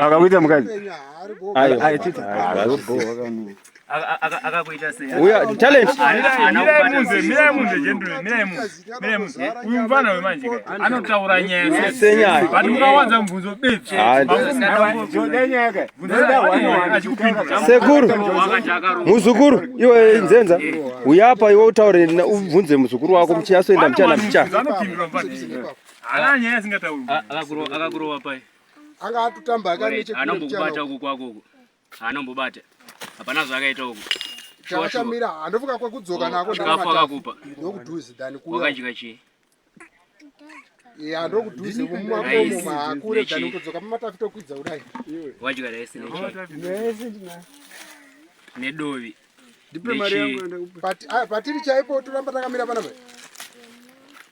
akakuita mukadzi akakuita seuya talent uyu mfana wemanje anotaura nyaya senyaya but mukawanza mubvunzo bechi sekuru muzukuru iwe nzenza uyapa iwe utaure ubvunze muzukuru wako muchiyasoenda muchana muchana Haana nyaya asingatauri. Akakurova akakurova pai? Anga atotamba akaneche kule. Anombokubata uko kwako uko. Anombobata. Hapana zvakaita uko. Chawachamira handofuka kwekudzoka nako oh, ndakafa akakupa. Ndokudhuzi dani kuya. Wakadya chii? ya ndokudhuze mumakomo maakure dani kudzoka pamatafi tokwidza kudai wadya rice nedovi ndipe mari yangu patiri chaipo toramba takamira panapa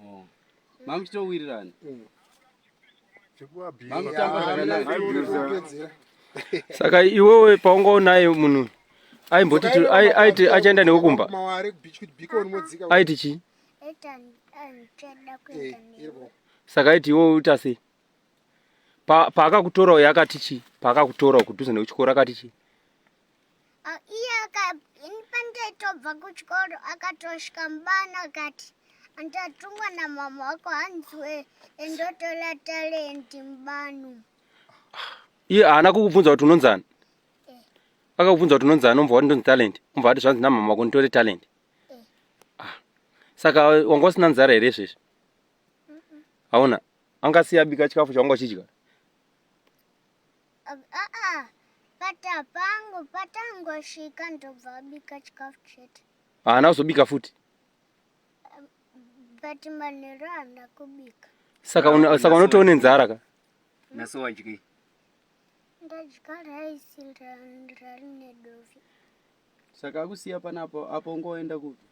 oh. mamuchitowirirana mm. saka iwewe paungaonaye munhu aimboti aiti achaenda newe kumba aiti chii eh, saka aiti iwewe uita sei paakakutora uyo akati chii paakakutora kudhuze nekuchikoro akati chii Ah, iye pandaitobva kuchikoro akatosvika mubana akati andatungwa namama wako hanziwe endotola talendi mubano iye haana kukubvunza kuti unonzani eh. akakubvunza kuti unonzani ombva wati ndonzi talendi ombva wati zvanzi namama wako nditore talendi eh. ah. saka wanga usina nzara here izvezvi hauna angasiya bika chikafu chawanga uchidya Aa but apangu patangosvika ndobva abika chikafu chete. Haana kuzobika futi. But manheru haana kubika. Saka una, saka unotoone nzara ka? Naso wadyi. Ndadya rice rari nedovi. Saka akusiya panapo apo ngoenda kupi?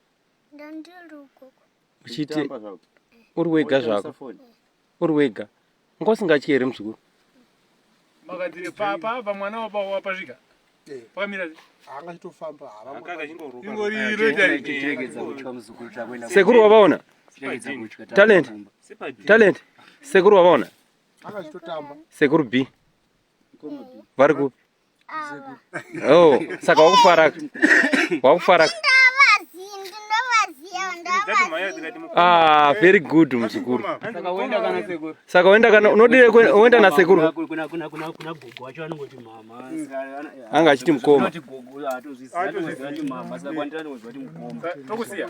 Ndandiri ukoko. uchiti uri wega zvako uri wega nga usingatye here muzukuru makadzire papa pamwana wapasvika eh. pakamira sekuru wavaona talent talent sekuru wavaona sekuru b vari ku Oh, saka wakufara wakufara Ah, very good mzukuru. Saka uenda kana sekuru. Saka uenda kana unodire uenda na sekuru. Kuna kuna kuna kuna gogo wacho anongoti mama. Anga achiti mkoma. Anongoti gogo atozviziva kuti mama saka kwandira anongoti mkoma. Tokusiya.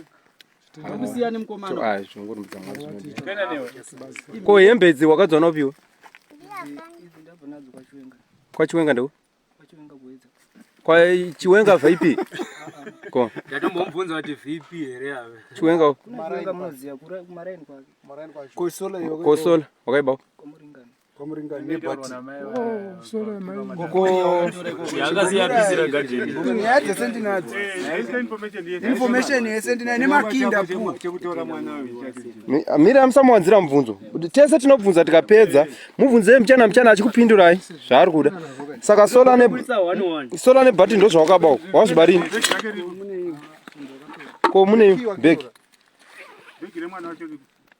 ko hembe idzi wakadziwana upiwe kwachiwenga ndeu kwachiwenga vip ko ndatombomubvunza kuti vip here ave chiwenga kosola wakaibao kwamuringa nebati nyaya dzese ndinadzo information yese ndinayo nemakinda pu Mi- mira amusamuwanzira mubvunzo Kuti tese tinobvunza tikapedza mubvunzei mchana mchana achikupindurai zvaari kuda saka sola ne sola nebhati ndo zvawakaba uko wazviba rini ko mune bhegi Bhegi remwana wacho riri-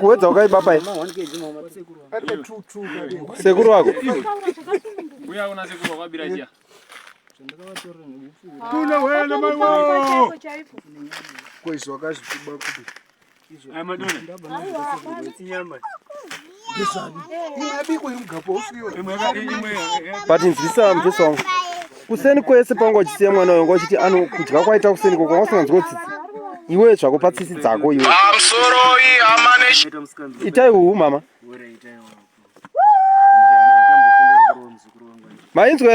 kuwedza wakaiba pai sekuru wako but nzwisa mvesa wangu kuseni kwese panga uchisiya mwana wangu achiti ano kudya kwaita kuseni ko kwanga usinganzwa tsitsi iwe zvako patsitsi dzako iwe itai uhu mama mainzwa